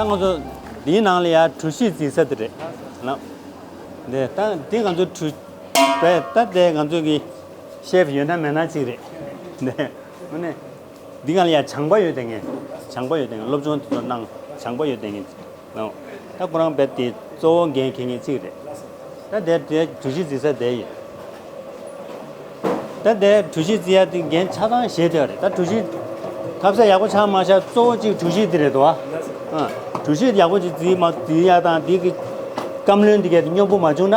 ད་ང་ཚོ་འདིའི་ནང་ལ་ཡ་གྲུ་བཞི་འཛིན་ས་དེ་རེད། དེ་ད་དེ་ང་ཚོའི་གྲུ། དེ་ད་དེ་ང་ཚོའི་གི་ཤེས་ཡོད་ན་མེད་ན་ཅིག་རེད། འདི་གང་ལ་ཡང་བྱང་པ་ཡོད་དེ་ངས་བྱང་པ་ཡོད་དེ་ངས་སློབ་སྦྱོང་དེ་ཚོ་གནང་བྱང་པ་ཡོད་དེ་ངས་གནང། ད་ཁོ་རང་བེད་དེ་གཙོ་བོ་འགན་ཁེ་ངེས་ཚིག་རེད། ད་དེ་དེ་གྲུ་བཞི་རྩི་ས་དེ་ཡིན། ད་དེ་གྲུ་བཞི་རྩི་ཡ་དེ་འགན་ཆ་ཚང་བཞེས་དེ་རེད་ད་གྲུ་བཞི་ཐབས་ཟད་ཡག་པོ་ཆགས་མ་ཆགས་གཙོ་བོ་གཅིག་གྲུ་བཞི་དེ་རེད་དོ། གྲུ་བཞི་ཡག་པོ་ཅིག་རྩིས་མ་རྩིས་ཡ་དང་དེ་གི་བཀའམ་བློན་དེ་གས་དེ་སྙོབ་པོ་མ་བྱུང་ན།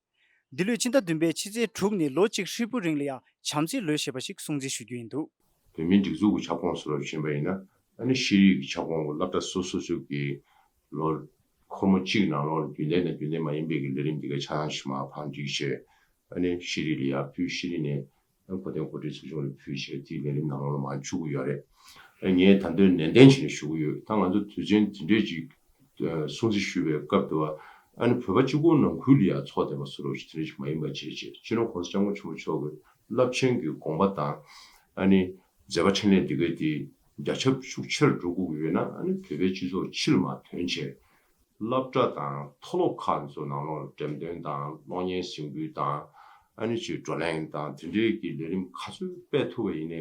འདི་ལོའི་སྤྱི་ཟླ་བདུན་པའི་ཕྱི་ཚེས་དྲུག་ནས་ལོ་གཅིག་ཧྲིལ་པོའི་རིང་ལ་ཡང་བྱམས་བརྩེའི་ལོའི་ཞེས་པ་ཞིག་སྲུང་བརྩི་ཞུ་རྒྱུ་ཡིན་འདུག། བོད་མིའི་སྒྲིག་འཛུགས་ཀྱི་ཁྱབ་ཁོངས་སུ་ལོ་བཞིན་པ་ཡིན་ན། ད་ནི་ཤེས་རིག་གི་ཁྱབ་ཁོངས་ཀྱི་བསླབ་གྲྭ་སོ་སོ་ཞུགས་ཀྱི་ལོ། ཁོ་མོ་གཅིག་ནང་ལོགས་ལ་རྒྱུན་ལྡན་དང་རྒྱུན་ལྡན་མ་ཡིན་པའི་གི་ལས་རིམ་དེ་གའི་ཆགས་སྡང་ཕྱི་མ་འཕང་འགྲིག་ཆེད། ད་ནི་ཤེས་རིག་ལ་ཡར་ཕུད་ཤེས་རིག་ནས་གོ་སྟོན་གོ་སྒྲིག་ཚོགས་ཆུང་ལ་ཕུལ་ཞེས་དེའི་ལས་རིམ་ནང་ལོ་མང་འཆུག་གི་ཡོད་རེད། ངས་ད་དོན་ནན་ཏན་བྱས་ནས་ཞུ་གི་ཡོད་ད་ང་ཚོ་དུས་ཆེན་དེ་འདྲའི་ཅིག་སྲུང་བརྩི་ཞུ་བའི་སྐབས་དེ་བ་ཨ་ནི་བོད་པ་སྤྱི་ཁོག་ནང་ཁུལ་ལ་ཡང་ཚོགས་སྡེ་པ་སུ་རོགས་ཞིག་དེ་འདྲ་ཞིག་མ་ཡིན་པ་བྱས་རྗེས་སྤྱི་ནོར ྋགོང་ས ྋསྐྱབས་མགོན་ཆེན་པོ་མཆོག་གི་རླབས་ཆེན་གྱི་དགོངས་པ་དང་ཨ་ནི་མཛད་པ་འཕྲིན་ལས་འདི་གའི་དེ་རྒྱ་ཁྱབ་ཤུགས་ཆེར་འགྲོ་སྒུག་གི་ཡོད་ན་ཨ་ནི་བོད་པའི་སྤྱི་ཚོགས་ཕྱི་ལ་མ་ཐོན་ཆེད་སློབ་གྲྭ་དང་མཐོ་སློབ་ཁག་ཚོའི་ནང་ལོགས་ལ་འགྲེམས་སྟོན་དང་གློག་བརྙན་གཟིགས་འབུལ་དང། ཨ་ནུ་ཆོས་བགྲོ་གླེང་དང་དེ་འབྲེལ་གྱི་ལས་རིམ་ག་ཚོད་སྤེལ་ཐུབ་པ་ཡིན།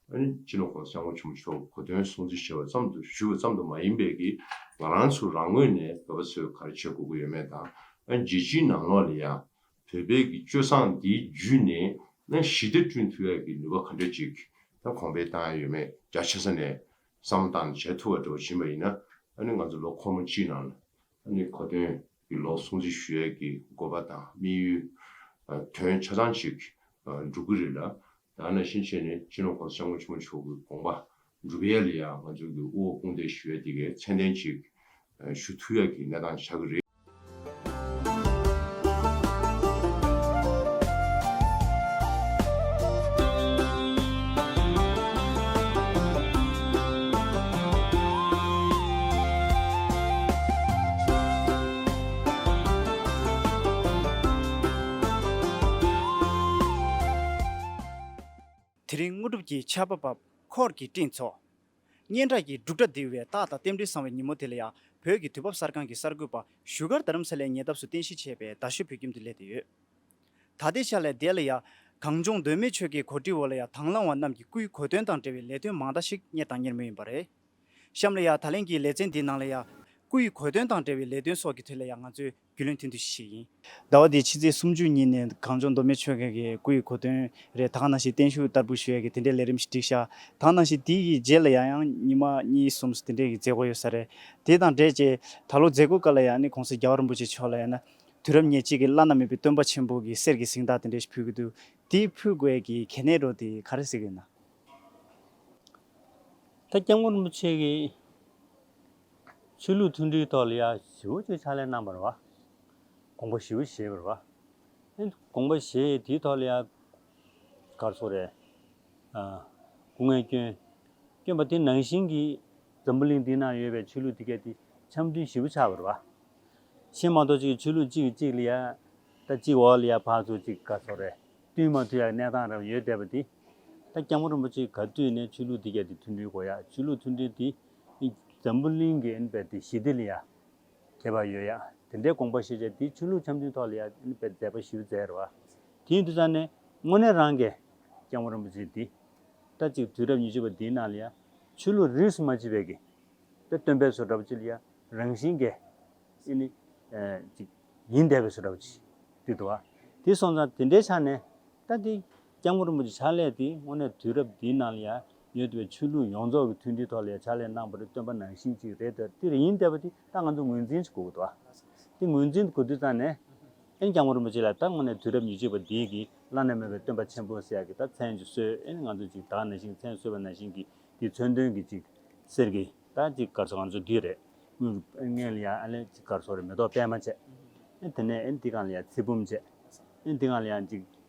ཨ་ནུ་སྤྱི་ལོ་ཧོར་སེང་བོ་ཆུང་མཆོག་གོ་སྟོན་སྲུང་བརྩི་ཞུས་པ་ཙམ་དུ་ཞུས་པ་ཙམ་དུ་མ་ཡིན་པའི་གིས་ང་རང་ཚོ་རང་ངོས་ནས་བོད་པ་ཚོའི་ག་རེ་བྱེད་དགོས་ཀྱི་ཡོད་མེད་དང་རྒྱལ་སྤྱིའི་ནང་ལོགས་ལ་ཡང་བོད་པའི་གི་སྤྱོད་བཟང་འདིའི་བརྒྱུད་ནས་ཞི་བདེ་བསྐྲུན་ཐུབ་ཡག་གི་ནུས་པ་ག་འདྲ་ཅིག་གོང་འཕེལ་བཏང་ཡོད་མེད་རྒྱ་ཆེ་ས་ནས་བསམ་བློ་བཏང་ནས་བྱེད་ཐུབ་པ་འགྲོ་བཞིན་པ་ཡིན་ན། ང་ཚོ་ལོ་འཁོར་མོ་སྤྱིའི་ནང་ལ། གོ་དོན་གྱི་ལོ་སྲུང་བརྩི་ཞུ་ཡས་ཀྱི་དགོས་པ་དང་དམིགས་ཡུལ། དོན་ཆ་ཚང་ཞིག་འགྲུབ་ཀྱི་རེད་ལ། ཡང་ན་ཕྱིན་ཆད་ནས་སྤྱི་ནོར་ཁོང་སྐྱབས་མགོན་ཆེན་མོ་མཆོག་གི་དགོངས་པ་འགྲུབ་ཡས་ལ་ཡང་ང་ཚོ་གི་དབུ་འོག་དཔུང་འདེགས་ཞུ་ཡས་དེ་གའི་མཚན་ལྡན་ཅིག་ཞུ་ཐུ་ཡག་གི་གནས་སྟངས་བྱ་གི་རེད། དེ་རིང་དངོས་གྲུབ་ཀྱི་ཆར་པ་འབབ་འཁོར་གྱི་སྤྲིན་ཚོགས། སྙན་གྲགས་ཀྱི་འབྲུག་སྒྲ་ལྡིར་བའི་རྟགས་དང་རྟེན་འབྲེལ་བཟང་བའི་ཉིན་མོ་དེ་ལ་ཡང་བོད་ཀྱི་དུས་བབ་གསར་ཁང་གི་གསར་འགོད་པ་བཞུགས་སྒར་རྡ་རམ་ས་ལའི་ཉེ་འདབས་སུ་རྟེན་གཞི་བྱས་པའི་རྡ་ཤོད་བོད་ཁྱིམ་དུ་སླེབས་ཏེ་ཡོད། ད་ལྟའི་ཆར་ལས་བདེ་ལ་ཡ། གངས་ལྗོངས་གདོད་མའི་ཆོལ་ཁའི་གོ་སྒྲིག་འོག་ལ་ཡ་དྭང་བླངས་བ་རྣམས་ཀྱི་སྐུའི་གོ་སྟོན་དང་འབྲེལ་བའི་ལས་དོན་མང་དག་ཞིག་གཉེར་དང་གཉེར་མུས་ཡིན་པ་རེད། གཤམ་ལ་ཡ་ད་ལན་གྱི་ལེ་ཚན་འདིའི་ནང་ལ་ཡ། སྐུའི་གོ་སྟོན་དང་འབྲེལ་བའི་ལས་དོན་སོགས་ཀྱི་ཐད་ལ་ཡ་ང་ཚོས། རྒྱུས་ལོན་ཐུན་བསྡུ་ཞིག་ཡིན། ཟླ་བ་འདིའི་ཕྱི་ཚེས་སུམ་ཅུ་ཉིན་ནས་གངས་ལྗོངས་མདོ་སྨད་ཆོལ་ཁའི་སྐུ་ཡི་གོ་དོན་རེ་དྭགས་ནང་བཞིན་བརྟན་བཞུགས་བསྟར་འབུལ་ཞུ་ཡས་ཀྱི་དེ་འབྲེལ་ལས་རིམ་ཞིག་སྒྲིག་བཞག་དྭགས་ནང་བཞིན་དེའི་རྗེས་ལ་ཡང་ཡང་ཉིན་མ་གཉིས་གསུམ་སུ་དེ་འབྲེལ་གྱི་མཛད་སྒོ་ཡོད་ས་རེད། དེ་དང་འབྲེལ་བཅས་ད་ལོ་མཛད་སྒོའི་སྐབས་ལ་ཡང་ནི་གོང་ས་རྒྱ་བ་རིན་པོ་ཆེ་མཆོག་ལ་ཡང་ན། དུས་རབས་ཉེར་གཅིག་གི་བླ་ན་མེད་པའི་སྟོན་པ་ཆེན་པོ་གི་གསེར་གྱི་གཟིངས་དག་དེ་འདྲས་ཞིག་ཕུལ་གྱི་འདུག་དེ་ཕུལ་དགོས་ཀྱི་གལ་གནད་རོ་དེ་ག་རེ་ཟེར་གྱི་ཡོད་ན། ད་སྐྱབས་མགོན་རིན་པོ་ཆེ་གི། ཆོས་ལུགས་མཐུན་སྒྲིལ་ཐོག་ལ་ཡ་བཞི་བོ་ཅོག་ཕྱག་ལས་གནང་བར་བ། དགོངས་པ་བཞི་བོ་བཞེས་པར་བ། དགོངས་པ་བཞེས་དེའི་ཐོག་ལ་ཡ། སྐར་ཚོགས་རེ། སྐུ་ངལ་སྐྱོན། སྐྱོན་པ་དེ་ནང་བཞིན་གྱི། འཛམ་བུ་གླིང་འདི་ན་ཡོད་པའི་ཆོས་ལུགས་དེ་གས་དེ་འཆམ་མཐུན་བཞི་བོ་ཆགས་པར་བ། ཤེས་མ་གཏོགས་གཅིག་གི་ཆོས་ལུགས་གཅིག་གི་གཅིག་ལ་ཡ། ད་གཅིག་འོག་ལ་ཡ་ཕག་ཚོགས་གཅིག་སྐར་ཚོགས་རེ། བསྟུན་མ་ཐུབ་ཡ་གནས་སྟངས་རེ་བ་ཡོད་བསྡད་པ་དེ། ད་སྐྱབས་མགོན་རིན་པོ་ཆེ་ག་དུས་ནས་ཆོས་ལུགས་དེ་གས་དེ་མཐུན་སྒྲིལ་གོ་ཡ་ཆོས་ལུགས་མཐུན་སྒྲིལ་དེ། འཛམ་བུ་གླིང་གི་ཨིན་པེར་ཏི་ཞི་བདེ་ལ་ཡ་གྱེས་པ་ཡོད་ཡ། དེ་འདྲའི་དགོངས་པ་བཞེས་བྱ་དེའི་ཆོས་ལུགས་འཆམ་མཐུན་ཐོག་ལ་ཡ་ཨིན་པེར་མཛད་པ་ཞུ་མཛད་རོ། དེ་ཡིན་དུས་ཙང་ནས་དངོས་གནས་རང་གས་ལྕང་མོ་རིན་པོ་ཆེ་འདི། ལྟ་ཅིག་དུས་རབས་ཉི་ཤུ་པ་འདིའི་ནང་ལ་ཡ། ཆོས་ལུགས་རིས་སུ་མ་མཆིས་པའི་གི། དཔེ་སྟོན་པའི་བཟོ་འདྲ་པོ་ཅིག་ལ་ཡ། རང་བཞིན་གས། ཨི་ནི། ཅིག། ཡིན་འདས་པའི་བཟོ་འདྲ་པོ་ཅིག། ཏིག་ཏུ་བ། དེ་སོང་ཙང་དེ་འདྲའི་ཆ་ནས། ལྟ་སྟེ། ལྕང་མོ་རིན་པོ་ཆེ་ཕྱག་ལས་དེ་དངོས་གནས་དུས་རབས་འདིའི་ནང་ལ་ཡ། ཡོད་པའི་ཆོས་ལུགས་ཡོངས་རྫོགས་ཀྱི་མཐུན་སྒྲིལ་ཐོག་ལས་འཆར་ལས་གནང་བར་བཏོན་པ་ནང་བཞིན་གཅིག་རེད་དེ་འདི་རེད་ཡིན་བསྡད་པ་དེ་ད་ང་ཚོས་ངོས་འཛིན་གྱི་དགོས་དགོས་འདུག་དེ་ངོས་འཛིན་གྱི་དགོས་དུས་ཙམ་ནས། ཨེན་ཀྱང་མོ་རིན་པོ་ཆེ་ལ་ད་སྔོན་ནས་དུས་རབས་ཉི་ཤུ་པ་འདིའི་གི་བླ་ན་མེད་པའི་སྟོན་པ་ཆེན་པོ་སྲས་ཀྱི་ད་མཚན་གཅིག་གསོལ་ཨེན་ང་ཚོས་གཅིག་དག་ན་ཞིང་མཚན་གསོལ་བ་ན་ཞིང་གི་དེ་མཚོན་དོན་གྱི་གཅིག་ཟེར་གི་ད་གཅིག་སྐར་ཚོགས་ང་ཚོས་འདི་རེད་དངུལ་གྱི་ཨེན་ལ་ཡ་ཨ་ལས་གཅིག་སྐར་ཚོགས་རེད་མེ་ཏོག་པད་མ་བཅས་ཨེན་དེ་ནས་ཨེན་འདི་གང་ལ་ཡ་ཚེ་བུམ་བཅས་ཨེན་འདི་གང་ལ་ཡ་གཅིག་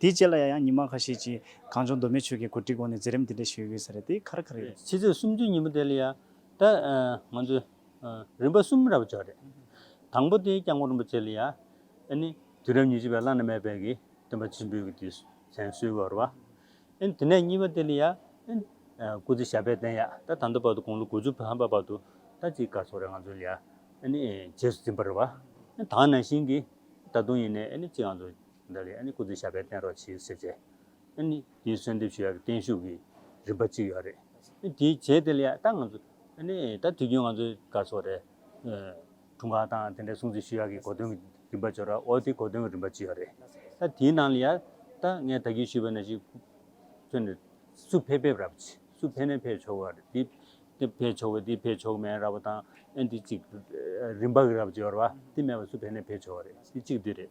དེའི་རྗེས་ལ་ཡ་ཡང་ཉི་མ་ཁ་ཤས་ཀྱིས་གངས་ལྗོངས་མདོ་སྨད་ཆོལ་ཁའི་གོ་སྒྲིག་འོག་ནས་འཛིན་རིམ་འདི་འདྲ་ཞིག་ཡོད་ཡོད་ས་རེད་དེ་ག་རེ་ག་རེ་རེད། ཕྱི་ཚེས་སུམ་ཅུའི་ཉིན་མོ་དེ་ལ་ཡ་ད་ང་ཚོས་རིམ་པ་གསུམ་ར་བ་འཇོག་རེད། དང་པོ་དེ་སྐྱབས་མགོན་རིན་པོ་ཆེ་ལ་ཡ་ནི་དུས་རབས་ཉི་ཤུ་པའི་བླ་ན་མེད་པའི་གི་སྟོན་པ་ཆེན་པོའི་གི་དུས་ཟན་གསོལ་བའི་བར་བ། དེ་ནས་གཉིས་པ་དེ་ལ་ཡ་སྐུ་ཚེ་ཞབས་པད་བརྟན་ཡ་ད་ད་ལྟ་བར་དུ་དགུང་ལོ་དགུ་ཅུ་ཕ་མ་བར་དུ་ད་ཅིག་སྐར་ཚོགས་རེ་ང་ཚོ་ལ་ཡ་ནི་རྗེས་སུ་འཛིན་པར་བ། ད་ནང་བཞིན་གི་ད་དུང་ཡིན་ནའི་ཅིག་ང་ཚོ་འདི་ལས་ཨ་ནི་སྐུ་ཚེ་ཞབས་པད་བརྟན་རོགས་བྱེད་ཟེར་ཚེ། ཨ་ནི་དེའི་གསོལ་འདེབས་ཞུ་ཡག་གི་བརྟན་བཞུགས་ཀྱི་རིམ་པ་གཅིག་ཡོད་རེད། ཨ་ནི་དེ་བྱས་དེ་ལས་ད་ང་ཚོ། ཨ་ནི་ད་དུས་རྒྱུན་ང་ཚོའི་སྐར་ཚོགས་རེད། དྲུང་ཁག་དང་དེ་འདྲའི་སྲུང་བརྩི་ཞུ་ཡག་གི་གོ་དོན་གྱི་རིམ་པ་འབྱོར་རོགས་དེ་གོ་དོན་གྱི་རིམ་པ་གཅིག་ཡོད་རེད། ད་དེའི་ནང་ལ་ཡང་ད་ངས་ད་གིན་ཞུས་པའི་ནང་ཞིག། ཁྱོད་ནས་སུ་ཕེབས་ཕེབས་ར་བ་ཆེ་སུ་ཕེབས་ནས་ཕེབས་ཆོག་གི་རེད། དེ་ཕེབས་ཆོག་གི་དེ་ཕེབས་ཆོག་མེད་ར་བ་དང་ཨ་ནི་དེ་གཅིག་རེད། རིམ་པ་གི་ར་བ་འབྱོར་བ་དེ་མེད་པ་སུ་ཕེབས་ནས་ཕེབས་ཆོག་གི་རེད་དེ་གཅིག་དེ་རེད།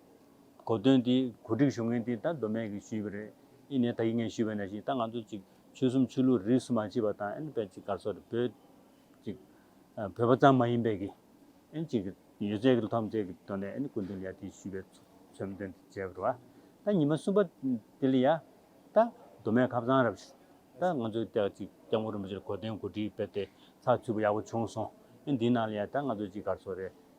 གོ་དོན་དེ་གོ་སྒྲིག་ཞུ་མཁན་དེ་ད་མདོ་སྨད་ཀྱི་ཞུས་པ་རེད་ཨི་ནས་ད་ཡིག་ངན་ཞུས་པ་ན་ཞིག་ད་ང་ཚོ་ཅིག་ཆོལ་གསུམ་ཆོས་ལུགས་རིས་སུ་མ་མཆིས་པ་དང་ཨན་བོད་ཅིག་སྐར་ཚོགས་རེད་བོད་ཅིག་བོད་པ་ཙམ་མ་ཡིན་པའི་གི་ཨན་ཅིག་གི་ཡོད་ཚད་གི་ཐོམ་ཚད་གི་དོན་ལས་ཨན་ཀུན་དོན་ཡ་དེ་ཞུས་པའི་ཚོམ་དོན་དེ་བྱས་པར་བ་ད་ཉི་མ་གསུམ་པ་དེ་ལ་ཡ་ད་མདོ་སྨད་ཁབ་ཚང་རབ་ཞུ་ད་ང་ཚོའི་སྟེགས་ཅིག་སྐྱབས་མགོན་རིན་པོ་ཆེར་གོ་དོན་གོ་སྒྲིག་སྤེལ་ཏེ་ཚགས་ཚུད་པོ་ཡག་པོ་བྱུང་སོང་ཨན་དེའི་ནང་ལ་ཡ་ད་ང་ཚོ་ཅིག་སྐར་ཚོགས་རེད་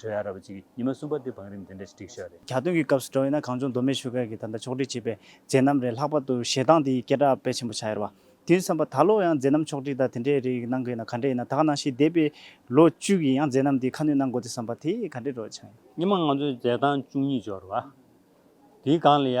གྲོས་ཨ་ར་བ་ཅིག་གིས་ཉི་མ་གསུམ་པ་དེ་བང་རིམ་དེ་འདྲ་ཞིག་བསྒྲིགས་ཤག་རེད། གྱ་སྟོན་གྱི་སྐབས་སུ་འགྲོ་ཡིན་ན་གང་བྱུང་མདོ་སྨད་ཆོལ་ཁ་གི་ད་ལྟ་ཕྱོགས་སྒྲིག་བྱེད་པའི་མཛད་རྣམ་རེད་ལྷག་པར་དུ་ཞེ་སྡང་དེ་ཡིས་སྐད་གྲགས་དཔེ་ཆེན་པོ་ཆགས་ཡོད་རེད་བ། དེའི་མཚན་པ་ད་ལོ་ཡང་མཛད་རྣམ་ཕྱོགས་སྒྲིག་དང་དེ་འདྲའི་རིགས་གནང་གི་ཡོད་ན་ག་འདྲ་ཡིན་ན་ད་ག་ནང་བཞིན་འདས་པའི་ལོ་བཅུ་གི་ཡང་མཛད་རྣམ་དེ་ཁ་སྣོན་གནང་དགོས་ཏེ་བསམ་པ་དེ་ག་འདྲའི་རོ་ཆགས་ཡིན། ཉི་མ་ང་ཚོའི་མཛད་སྟངས་བཅུ་གཉིས་སྦྱོར་བ། དེའི་སྒང་ལ་ཡ།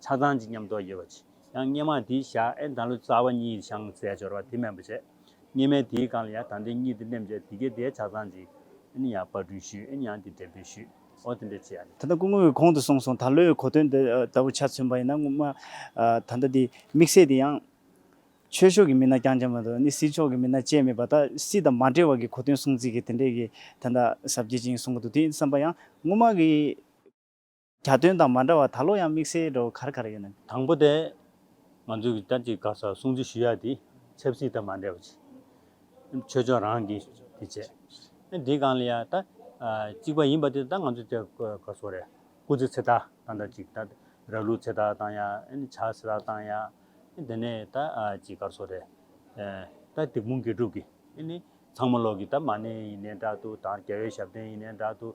ཆགས་སྡང་གཅིག་ཉམས་རྟོགས་ཡོད་པ་གཅིག། ཡང་སྙེ་མ་དེའི་ཞག་ཨེ་དང་ལོ་ཙཱ་བ་གཉིས་ཤངས་བཙལ་སྦྱོར་བ་དེ་སྨན་པོ་བྱེད། སྙེ་མའི་དེའི་སྒང་ལ་ཡང་དང་དེ་གཉིས་དེ་སྨན་བྱེད་དེ་གའི་དེའི་ཆགས་སྡང་གཅིག། ཨེ་ཡང་པར་སྐྲུན་ཞུས་ཨེ་ཡང་དེ་འགྲེམས་སྤེལ་ཞུས། ཨོ་དེ་འདྲའི་བྱས། ད་ལྟ་སྐུ་ངོ་བོས་གོང་དུ་གསུངས་སོང་ད་ལོའི་གོ་དོན་འདི་ལྟ་བུ་ཆ་མཚོན་པ་ཡིན་ན་སྔོན་མ་ད་ལྟ་དེ་དམིགས་བསལ་དེ་ཡང། ཆོས་ཕྱོགས་ཀྱི་མི་སྣ་རྐྱང་རྐྱང་མ་གཏོགས་ནི་སྲིད་ཕྱོགས་ཀྱི་མི་སྣ་བཅས་མེད་པ་ད་སྲིད་དང་མ་འབྲེལ་བ་གི་གོ་དོན་གསུངས་ཚིག་གི་དེ་འདྲས་ཀྱི་ད་ཟབ་རྒྱས་ཅན་གསུངས་གི་འདུག་དེ་བསམ་པ་ཡང་སྔོན་མ་གི། གྱ་སྟོན་དང་མ་འདྲ་བར་ད་ལོ་ཡང་དམིགས་བསལ་འགྲོ་གར་གར་ཡོད་ནམ། དང་པོ་དེ། ང་ཚོས་ཀྱི་ཏཱ་ཅི་ག་ས་སྲུང་བརྩི་ཞུ་ཡ་དེ་ཆབ་སྲིད་དང་མ་འདྲེས་པ་ཆེ། ཆོས་ཕྱོགས་རང་གི་དེ་བྱས། ཨེ་དེའི་སྒང་ལ་ཡ་ད། གཅིག་པ་ཡིན་པ་དེ་ད་ང་ཚོས་ཏཱ་ག་ས་རེད། སྐུ་ཚེ་ཚེ་ཐར་བཏང་ད་ཅིག་ད། ར་ལུག་ཚེ་ཐར་བཏང་ཡ་ཨེ་ནི་བྱ་ཚེ་ཐར་བཏང་ཡ། ཨེ་དེ་ནས་ད་ཅི་ག་ས་རེད། ད་དེ་དཔུང་དགེ་ཕྲུག་གི་ཨེ་ནི། ཚང་མ་ལོག་གི་ད་མ་ནེ་ཡིན་ནའི་འདྲ་ཏུ་ད་རྒྱ་བའི་ཞབས་བརྟན་ཡིན་ནའི་འདྲ་ཏུ།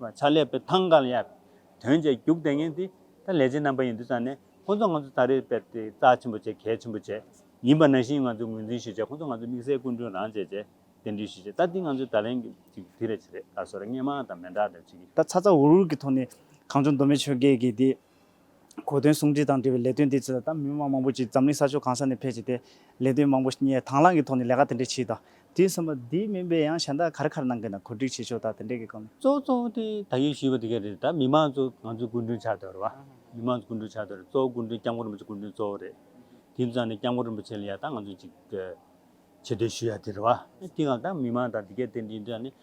བ་ཆ་ལས་པའི་ཐང་ག་ལ་ཡར། དོན་བྱས་རྒྱུགས་དེ་ངན་དེ། ད་ལས་བྱེད་རྣམ་པ་ཡིན་འདུག་ཙང་ནས་ཁོ་ཚོ་ང་ཚོ་ད་རེས་དཔེར་དེ་རྩ་ཆེན་པོ་བྱས་གལ་ཆེན་པོ་བྱས། ཡིན་པ་ནང་བཞིན་ང་ཚོས་ངོས་འཛིན་ཞུ་བྱས་ཁོ་ཚོ་ང་ཚོ་དམིགས་བསལ་སྐུ་མགྲོན་རང་བྱས་བྱས། གདན་འདྲེན་ཞུ་བྱས་ད་དེ་ང་ཚོའི་ད་ལན་གྱི་ཅིག་དེ་རེད་ཆི་རེད་ད་སོ་རེད་ངས་མང་དང་མེ་འདྲ་འདྲ་བྱེད་ཀྱི། ད་ཚ་ཚ་འུར་འུར་གྱི་ཐོག་ནས་གངས་ལྗོངས་མདོ་སྨད་ཆོས་དགེ་གི་དེ། གོ་དོན་ཟུང་འབྲེལ་དང་འབྲེལ་བའི་ལས་དོན་འདི་ཚོས་ད་མི་དམངས་མང་པོ་ཅིག་འཛམ་གླིང་ས་ཕྱོགས་གང་ས་ནས་ཕེབས་བྱས་ཏེ། ལས་དོན་མང་པོ་སྙེད་དྭང་བླངས་ཀྱི་ཐོག་ནས་ལས་ཀ་དེ་འདྲས་བྱས་ད། དུས་མཚམས་པ་འདི་མིན་པའི་ཡང་གཞན་དག་གར་གར་གནང་མཁན་དང་གོ་སྒྲིག་བྱེད་ཕྱོགས་དག་དེ་འདྲས་ཀྱི་སྐོར་ནས། གཙོ་བོ་གཙོ་བོ་དེ་ད་ཡོད་ཞུས་པ་དེ་ག་རེད་ད་མི་དམངས་ཚོ་ང་ཚོས་སྐུ་མགྲོན་ཆགས་འདོད་རེད་བ། མི་དམངས་ཚོ་སྐུ་མགྲོན་ཆགས་འདོད་རེད་གཙོ་བོ་སྐུ་མགྲོན་སྐྱབས་མགོན་རིན་པོ་ཆེ་སྐུ་མགྲོན་གཙོ་བོ་རེད། དུས་མཚམས་ནས་སྐྱབས་མགོན་རིན་པོ་ཆེ་ལ་ཡང་ད་ང་ཚོ་ཅིག་བྱེད་འདོད་ཞུ་ཡ་དེ་རེད་བ། དེའང་ད་མི་དམངས་དང་དེ་ག་དེ་འདྲས་ཡིན་དུས་ཡང་ནི།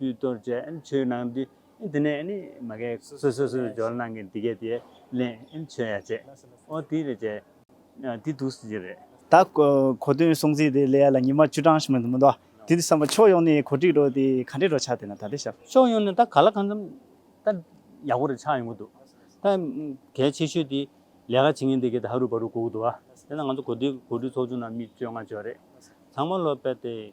དུས་གཏོར་བཅས་མཆོད་གནང་དུས་དེ་ནས་ནི་མ་གལ་སོ་སོས་སོ་སྦྱོར་གནང་གིན་འདི་གལ་དེ་ལས་མཆོད་ཡ་བྱེད་ཨོ་དེ་རེད་བྱེད་དེ་འདུག་ཟེར་རྒྱུ་རེད། ད་གོ་དོན་སྲོང་བཙན་དེ་ལས་ཡ་ལ་ཉི་མ་བཅུ་གྲངས་མི་འདུག་དེ་འདི་བསམ་པ་ཕྱོགས་ཡོངས་ནས་གོ་སྒྲིག་རོགས་དེ་ག་འདྲས་རོགས་ཆགས་དེ་ན་ད་དེ་ཞབས། ཕྱོགས་ཡོངས་ནས་ད་ག་ལ་གང་འཚམ་ད་ཡག་པོ་རེ་ཆགས་ཡོང་གི་འདུག་ད་གལ་ཆེ་ཤོས་དེ་ལས་ཀ་བྱེད་མཁན་དེ་གལ་ད་ཧ་རུ་བ་རུ་གོ་གི་འདུག་བ་དེ་ན་ང་ཚོ་གོ་དེ་གོ་སྒྲིག་ཚོགས་ཆུང་ནང་མི་བཅོ་ལྔ་བཅོ་རེ་ཚང་མ་ལོ་པད་དེ།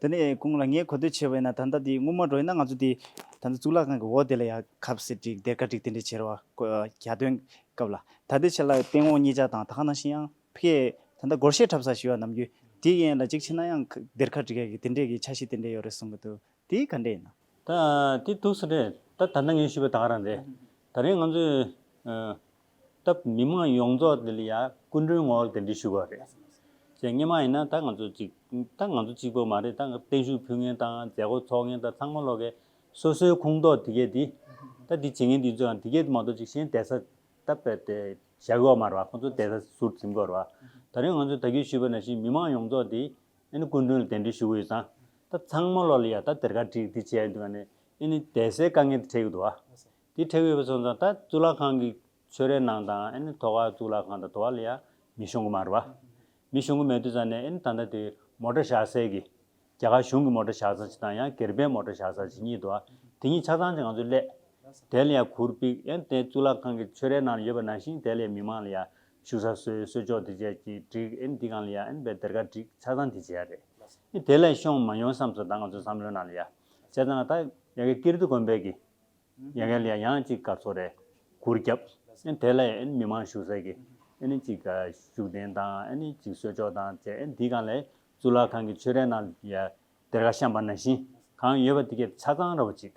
དེ་ནས་ཁོང་ལ་ངས་གོ་ཐོས་ཆེ་བས་ན་ད་ལྟ་དེ་དངུལ་མ་འགྲོ་ཡིན་ན་ང་ཚོ་དེ་ད་ལྟ་གཙུག་ལག་ཁང་གི་འོག་དེ་ལ་ཡང་ཁབ་ཟེར་བསྒྲིགས་སྡེར་ཁ་བསྒྲིགས་དེ་འདྲས་བྱེད་རོགས་གྱ་སྟོན་སྐབས་ལ་ད་ལྟའི་ཆ་ལ་སྟེང་འོག་གཉིས་ཅག་དང་ད་ཁ་ན་ཤི་ཡང་ཕི་ཡས་ད་ལྟ་སྒོར་གཞས་འཁྲབ་ས་ཞི་བ་ནམ་རྒྱུན་དེ་ཡན་ལ་གཅིག་ཕྱིན་ན་ཡང་སྡེར་ཁ་བསྒྲིགས་ཡག་གི་དེ་འདྲས་ཀྱི་ཆ་ཤས་དེ་འདྲས་ཡོད་རེད་གསུངས་གི་འདུག་དེ་ག་འདྲས་ཡིན། ད་དེ་ཐུགས་ས་རེད་ད་ད་ནང་ངས་ཞུས་པ་དག་རང་རེད་ད་རེས་ང་ཚོས། སྟབས་མི་མང་ཡོངས་རྫོགས་དེ་ལ་ཡ་སྐུ་མགྲོན་ངོ་དེ་འདྲས་ཞུས་པ་རེད། ཟེར་ངེས་མ་ཡིན་ན་ད་ང་ཚོ་གཅིག་ད་ང་ཚོ་གཅིག་པོ་མ་རེད་ད་བརྟན་བཞུགས་ཕུལ་མཁན་དང་མཛད་སྒོ་ཚོགས་མཁན་དང་ཚང་མ་ལོག་གེ་སོ་སོའི་ཁུངས་གཏོགས་དེ་གས་དེ་ད་དེ་བྱེད་མཁན་དེ་ཚོའང་དེ་གས་དེ་མ་གཏོགས་ཅིག་གཞན་བསྡད་ས་ད་བས་ཏེ་ཞབས་གཡོག་མ་རེད་བ་ཁོང་ཚོ་བསྡད་ས་ཟུར་འཛིན་དགོས་རེད་བ། ད་རེས་ང་ཚོས་ད་གས་ཞུས་པ་ན་བཞིན་མི་མང་ཡོངས་རྫོགས་དེ་ཨེ་ནི་སྐུ་མགྲོན་ལ་གདན་འདྲེན་ཞུ་གི་ཡོད་ཙང། ད་ཚང་མ་ལོག་ལ་ཡ་ད་དེར་ཁ་དཀྲིགས་དེ་བྱས་འདུག་ག་ནི་ཨེ་ནི་དད་སའི་དཀའ་ངལ་དེ་འཕྲད་ཡོད་འདུག་ག། དེ་འཕྲད་ཡོད་པ་སོང་ཙང་ད་གཙུག་ལག་ཁང་གི་ཆོས་རའི་ནང་དང་ཨེ་ནི་དོ་ག་གཙུག་ལག་ཁང་དང་དོ་ག་ལ་ཡང་མི་ཤོང་གི་མ་རེད་བ། མི་ཤོང་གི་མེད་དུས་ཙང་ནས་ཨེ་ནི་ད་ལྟ་དེ་མོ་དྲ་བཞག་སའི་གི། རྒྱ་གར་གཞུང་གི་མོ་དྲ་བཞག་ཙང་ཅིག་དང་ཡང་གེར་པའི་མོ་དྲ་བཞག་ཙང་ཅིག་གཉིས་འདུག་ག་དེ་གཉིས་ཆ་ཚང་ཅིག་ང་ཚོས་སླད། དེ་ལ་ཡང་གུར་པིག་ཨེ་ནི་དེ་གཙུག་ལག་ཁང་གི་ཆོས་རའི་ནང་ལ་ཡོད་པ་ནང་བཞིན་དེ་ལ་ཡང་མི་མང་ལ་ཡང་ཆུ་ས་སོའི་གསོལ་ལྕོག་དེ་བཅས་ཀྱིས་བསྒྲིགས་ཨེ་འདི་གང་ལ་ཡ་ཨེ་འབའ་སྡེར་ཁ་བསྒྲིགས་ཆ་ཚང་དེ་བྱས་ཡ་རེད་ཨེ་དེ་ལས་ཤོང་མ་ཡོང་བསམས་སོ་ད་ང་ཚོས་བསམ་བློའི་ནང་ལ་ཡ་བྱས་ཙང་ང་ད་ཡ་གེ་ཀིརྟི་དགོན་པའི་གི་ཡ་གེ་ལ་ཡ་ཡང་གཅིག་སྐར་ཚོགས་རེ་གུར་བརྒྱབ་ཨེ་དེ་ལ་ཡ་ཨེ་མི་མང་ཞུགས་ས་གི་ཨེ་ནི་གཅིག་ཤུགས་ལྡན་དང་ཨེ་ནི་གཅིག་གསོལ་ལྕོག་དང་བཅས་ཨེ་འདི་གང་ལ་ཡ་གཙུག་ལག་ཁང་གི་ཆོས་རའི་ནང་ལ་ཡ་སྡེར་ཁ་བཤམས་པ་ནང་བཞིན་གང་ཡོད་པ་དེ་ཀེ་ཆ་ཚང་ར་བ་གཅིག།